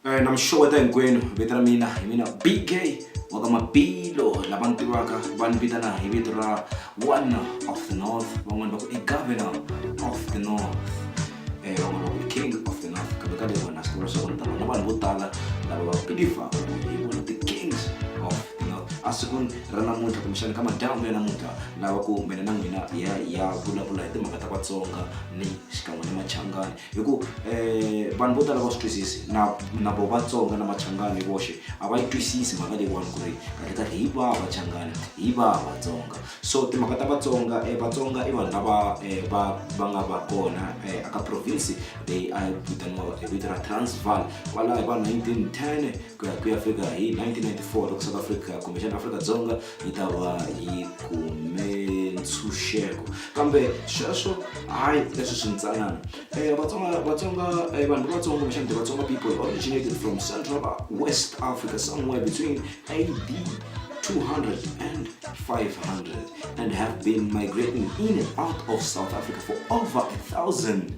Eh, na mi xeweta hinkwenu vito ra mina hi mina bk wa ka mabilo lava ni tivaka va ni vitana hi vito ra one of the north van'wani va ku i governor of the north eh, van'wani va ku i king of the north kambe ka leyi wena swi tiva leswaku ni ta vona vanhu vo tala lava va belivhaka ku hi vona ti-kings of the north a sikwini ra namuntlha kumbexani ka madyambu ya namuntlha lava ku mina na n'wina hi ya hi ya vulavula hi timhaka ta vatsonga ni xikan'we ni machangani hi ku um vanhu vo tala va swi twisisi na na vo vatsonga na machangani hi voxe a va yi twisisi mhaka leyiwani ku ri kahle kahle hi vaha vachangani hi vaha vatsonga so timhaka ta vatsonga um vatsonga i vanhu lava um va va nga va kona um aka province leyi a yi vitaniwa hi vito ra transval kwalaho hi va nineteen ten ku ya ku ya fika hi 1994 loko south africa kumbexana afrika dzonga yi ta va yi kume ntshunxeko kambe sweswo hayi leswi swi ntsanana um vatsonga vatsonga eh, vanhu vatsonga kumbexana the vatsonga people originated from central west africa somewhere between ad 200 and 500 and have been migrating in and out of South Africa for over a thousand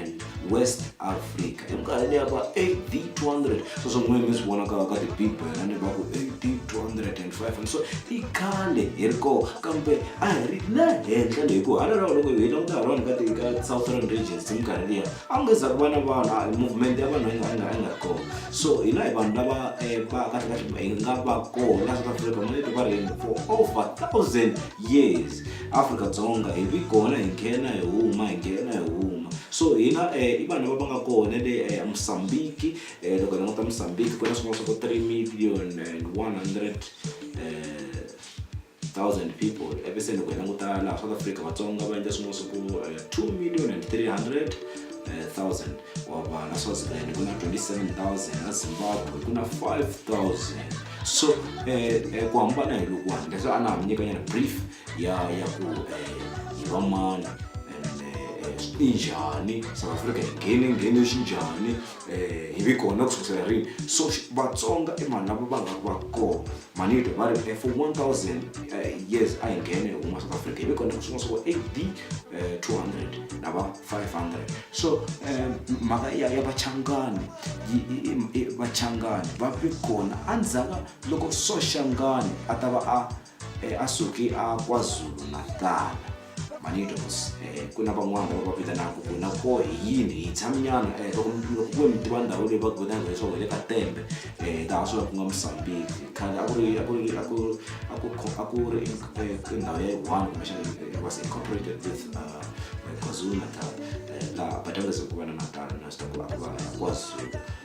and west africa eminkarhini ya va ad 200 so swo n'wini mi swi vona ka ka tibible na ni va ku ad 205 and so i khale hi ri koo kambe a hi ri la henhla leyi ku hala rawo loko hi languta ha rona ka ti- ka southern regions hi minkarhi liya a ku nge za ku va na vanhu a- movement ya vanhu a yi nga- a yi nga- a yi nga ri kona so hina hi vanhu lava eh, va kahlekahle hi nga va kona south africa maleto va ri for over thousand yes afrika dzonga hi ri kona hi nghena hi huma hi nghena hi huma so hina um i vanhu lava va nga kona le eh, mosambiki um eh, loko hi languta mosambiki ku na swin'wana swa ku three million and one hundred thousand people epe se loko hi languta laha south africa vatsonga va endla swin'wana swa ku two million and three hundred thousand wava na swaziland ku na 27000 na zimbabwe ku na 5000 so eh, eh, ku hambana hi lokuwani leswi a na ha mi nyikanyana brief ya ya ku eh, hi va mani and eh, eh, swi njhani south africa hi nghene nghene xi njhani eh, hi vi kona ku sukisela rini so xi- vatsonga i vanhu lava va nga va kona manito va ri for 1000 uh, years a hi nghene huma south africa ive kona swin'wa swa ku ab uh, 200 na va 500 so um, mhaka ya, ya vachangani vachangani va vi kona endzhaku loko soxangani a ta va a eh, a suke a kwazulu natala manitos eh, ku na van'wana lava va vitanaka ku na ko hi yini hi tshaminyana eh, loko loko ku ve mi tiva ndhawu leyi va ku vitanaka leswaku hi le ka tembe eh, laha swi va ku nga mosambiki khale a ku ri a ku ri a ku a ku kho- a ku ri in- eh, ku ndhawu ya one kumbexana eh, it was incorporated with uh, kwazulu natal eh, laha badaleza ku va na natal na swi ta ku a ku va kwazulu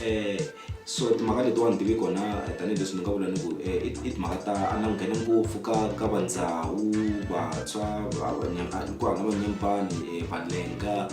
um so timhaka letiwani ti ve kona tanihileswi ni nga vula ni ku um i timhaka ta a langhele ngopfu ka ka va ndhawu vantshwa ku hava va nyempani um valenga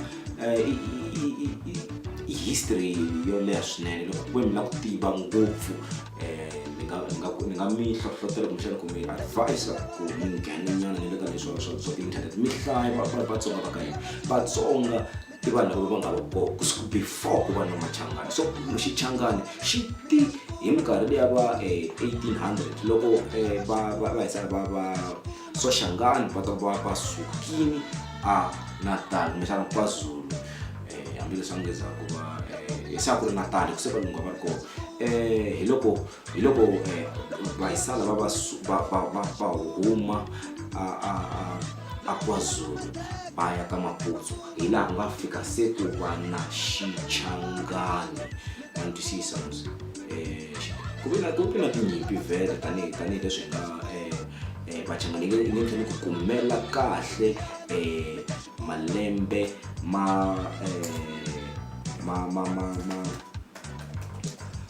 i history yo leha swinene loko ku ve mi la ku tiva ngopfu um ni nga ni nga ni nga mi hlohlotela kumbexana ku mi advise-a ku mi nghena nyana ni le ka leswiwa swa swa ti-internet mi hlaya vatsonga va ka hina vatsonga i vanhu lava va nga ri kona kusuka before ku va na machangani so xichangani xi ti hi minkarhi leya va um eighteen hundred loko um va va va hisana va va soshangani va ta va va sukile a natal kumbexana kwazulu um hambileswi va ngezaku va um se a ku ri natal ku se valungu a va ri kona um hi loko hi loko eh, vahisala va va su- va va va va huma a a a a kwazulu va ya ka maputsu hi laha ku nga fika se ku va na xichangani ma ni twisisa mos ku ve na ku ve na tinyimpi vhele tanihi tanihileswi hi nga eh, eh, vachangani nge nge tlheli ku kumela kahle eh, malembe ma eh, ma ma ma ma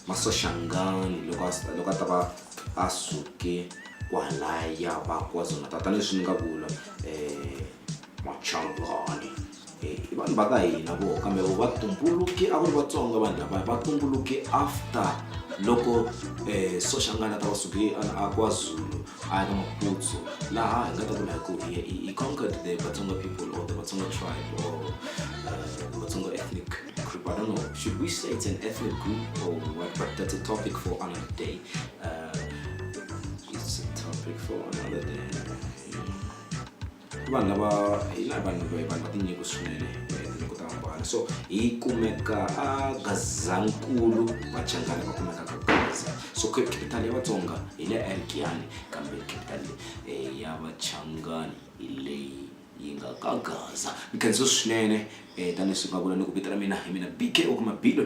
masoshangani loko loko a ta va a suke kwalaya va kwazulu-natal tanihileswi ni nga vula um machangani eh, i vanhu va ka hina vo kambe vo va tumbuluke a ku ri vatsonga vanhu lava va tumbuluke after loko um soshangani a ta va suke a kwazulu a ya ka maputsu laha hi nga ta vula hi ku hi i conquered the vatsonga people or the vatsonga tribe or eh, vatsonga ethnic group. I don't know, should we say it's an ethnic group or what? But that's a topic for another day. Uh, it's a topic for another day. vanhu lava hi na vanhu vanhu va tinyiko swinene tinyiko ta hambana so hi kumeka a gazankulu vachangani va kumeka ka gaza so capital ya vatsonga hi le erikiyani kambe capital ya vachangani hi leyi Yi nga ka Gaza. Ni khensiwe swinene. Tanihi leswi va vula, ni ku vito ra mina hi mina BK, u kuma Billy.